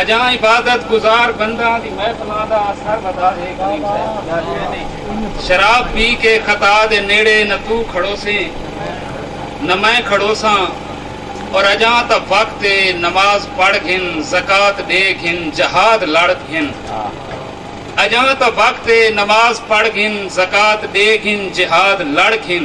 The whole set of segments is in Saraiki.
اجاں عبادت گزار بنداں دی محفلاں دا اثر ودا ہے کریم صاحب شراب پی کے خطا دے نیڑے نہ توں کھڑوسیں نہ میں کھڑوساں اور اجاں تاں وقت ہے نماز پڑھ گھن زکوۃ ڈے گھن جہاد لڑ گھن اجاں تاں وقت ہے نماز پڑھ گھن زکوۃ ڈے گھن جہاد لڑ گھن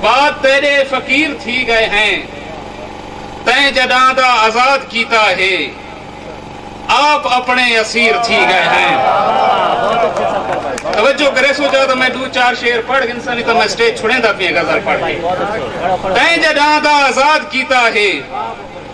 بعد تیݙے فقیر تھی ڳئے ہیں تیں جݙاں دا آزاد کیتا ہے آپ اپݨے اسیر تھی ڳئے ہیں توجہ کریسو جا تاں میں ݙو چار شعر پڑھ گھنساں نہیں تاں میں سٹیج چھڑیندا پیاں غزل پڑھ کے تیں جݙاں دا آزاد کیتا ہے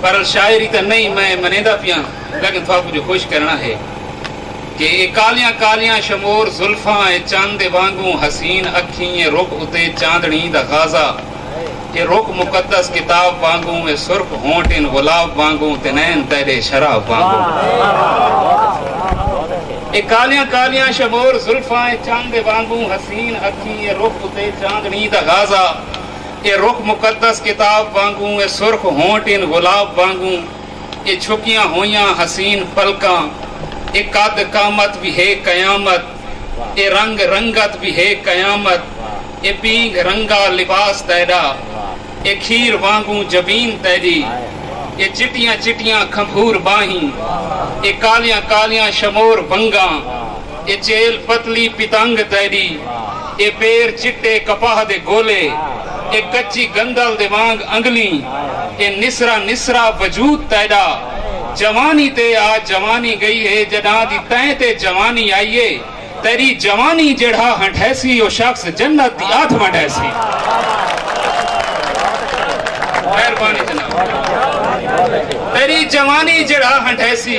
پر شاعری تاں نئیں میں منیندا پیاں لیکن تھاکوں جو خوش کرݨا ہے کہ اے کالیاں کالیاں شمور زلفاں اے چن دے وانگوں حسین اکھیں اے رخ اتے چاندݨی دا غازہ اے رخ مقدس کتاب وانگوں اے سرخ ہونٹ ان گلاب وانگوں تے نین تیڈے شراب وانگوں اے کالیاں کالیاں شمور زلفاں اے چن دے وانگوں حسین اکھیں اے رخ اتے چاندݨی دا غازہ اے رخ مقدس کتاب وانگوں اے سرخ ہونٹ ان گلاب وانگوں اے چھپیاں ہوئیاں حسین پلکاں اے قد قامت وی ہے قیامت اے رنگ رنگت وی ہے قیامت اے پینگھ رنگا لباس تیڈا اے کھیر وانگوں جبین تیڈی اے چٹیاں چٹیاں کھمبھور باہیں اے کالیاں کالیاں شمور ونگاں اے چیل پتلی پتنگ تیݙی اے پیر چٹے کپاہ دے گولے اے کچی گندل دے وانگ انگلیں اے نسرا نسرا وجود تیݙا جوانی تے آ جوانی ڳئی ہے ڄݙاں دی تیں تے جوانی آئی اے تیݙی جوانی ڄیڑھا ہنڈھیسی او شخص جنت دی ادھ ونڈیسی مہربانی جناب تیݙی جوانی ڄیڑھا ہنڈھیسی۔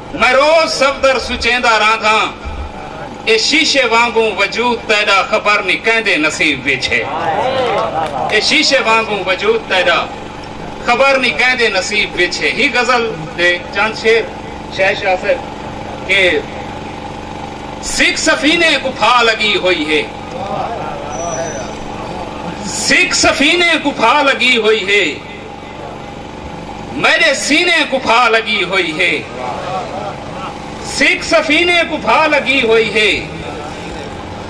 میں روز صفدر سچیندا رہنداں اے شیشے وانگوں وجود تیڈا خبر نی کیندے نصیب وچ ہے اے شیشے وانگوں وجود تیڈا خبر نی کیندے نصیب وچ ہے ہی غزل دے چند شعر شہ شاہ صاحب کہ سکھ سفینے کوں پھا لگی ہوئی ہے سکھ سفینے کوں پھا لگی ہوئی ہے میݙے سینے کوں بھا لڳی ہوئی ہے سکھ سفینے کوں بھا لڳی ہوئی ہے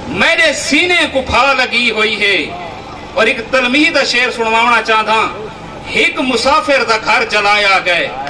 میݙے سینے کوں بھا لڳی ہوئی ہے اور ایک تلمیح دا شعر سنواونا چاہنداں ہک مسافر دا گھر جلایا گئے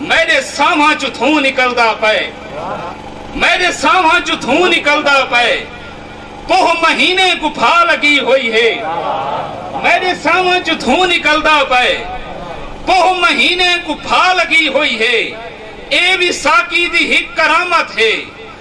میݙے سانہواں چوں دھوں نکلدا پئے میݙے سانہواں چوں دھوں نکلدا پئے کوہ مہینے کوں بھا لڳی ہوئی ہے میݙے سانہواں چوں دھوں نکلدا پئے کوہ مہینے کوں بھا لڳی ہوئی ہے اے وی ساقی دی ہک کرامت ہے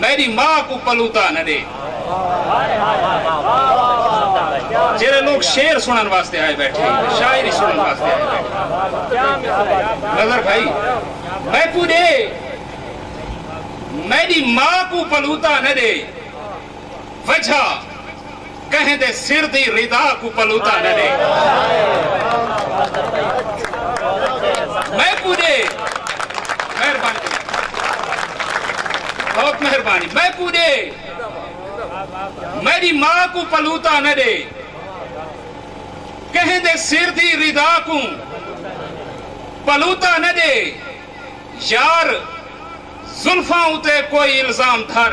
میڈی ماء کوں پلوتا نہ ڈے۔ جیرھے لوگ شعر سنن واسطے آئے بیٹھے شاعری سنن واسطے آئے بیٹھے نظر بھائی میں کوں ڈے میڈی ماں کوں پلوتا نہ ڈے وجہ کہیں دے سر دی ردا کوں پلوتا نہ ݙے۔ میکوں ݙے۔ مہربانی۔ بہت مہربانی۔ میکوں ݙے۔ میݙی ماء کوں پلوتا نہ ݙے۔ کہیں دے سر دی ردا کوں پلوتا نہ ݙے۔ یار زلفاں اتے کوئی الزام دھر۔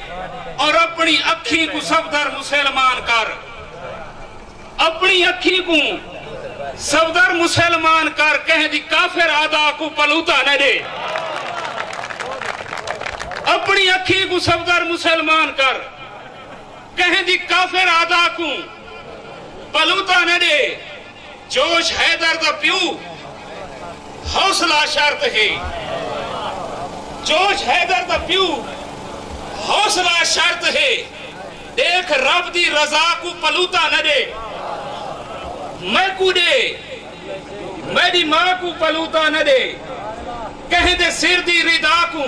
اور اپنی اکھیں کوں صفدر مسلمان کر اپنی اکھیں کوں صفدر مسلمان کر کہیں دی کافر ادا کو پلوتا نہ دے اپنی اکھیں کو صفدر مسلمان کر کہیں دی کافر ادا کو پلوتا نہ دے جوش حیدر دا پیو حوصلہ شرط ہے جوش حیدر دا پیو حوصلہ شرط ہے ڈیکھ رب دی رضا کوں پلوتا نہ ڈے میکوں ڈے میڈی ماں کوں پلوتا نہ ڈے کہیں دے سر دی ردا کوں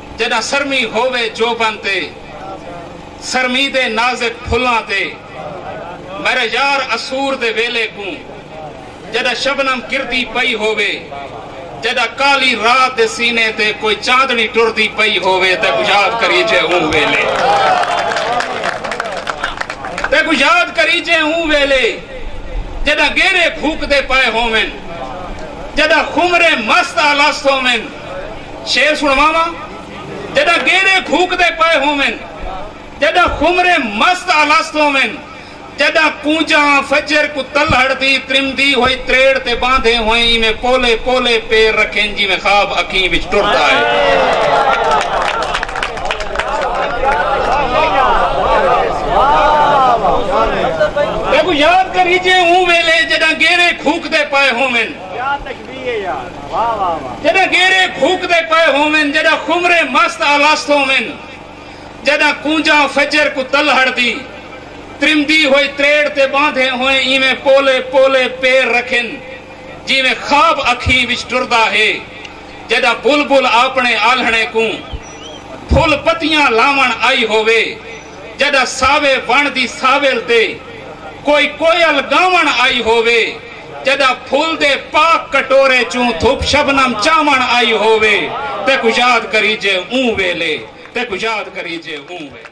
جݙاں سرمی ہووے جوبن تے سرمی دے نازک پھلاں تے میݙا یار عصور دے ویلے کوں جݙاں شبنم گردی پئی ہووے جݙاں کالی رات دے سینے تے کوئی چاندݨی ٹردی پئی ہووے تیکوں یاد کریجے اوں ویلے تیکوں یاد کریجے اوں ویلے جݙاں گیرے گھوکدے پئے ہوون جݙاں خمرے مست الست ہوون شعر سنواواں جڈاں گیڑے گھوکدے پئے ہوون جڈاں خمرے مست الست ہوون جڈاں کونجاں فجر کوں تلہڑ دی ترمدی ہوئی تریڑ تے باندھے ہوئیں ایویں پولے پولے پیر رکھن جیویں خواب اکھیں وچ ٹردا اے۔ تیکوں یاد کریجے اوں ویلے جڈاں گیڑے گھوکدے پئے ہوون۔ جݙاں گیرے بھوکدے پئے ہوون جݙاں خمریں مست الست ہوون جݙاں کونجاں فجر کوں تلہڑ دی ترمدی ہوئی تریڑ تے ٻاندھیں ہوئیں ایویں پولے پولے پیر رکھن جیویں خواب اکھیں وچ ٹردا ہے جݙاں بلبل آپݨے آلھݨے کوں پھل پتیاں لاوݨ آئی ہووے جݙاں ساوے وݨ دی ساول تے کوئی کوئل ڳاوݨ آئی ہووے۔ جݙاں پھل دے پاک کٹورے چوں دھپ شبنم چاوݨ آئی ہووے تیکوں یاد کریجے اوں ویلے تیکوں یاد کریجے اوں ویلے۔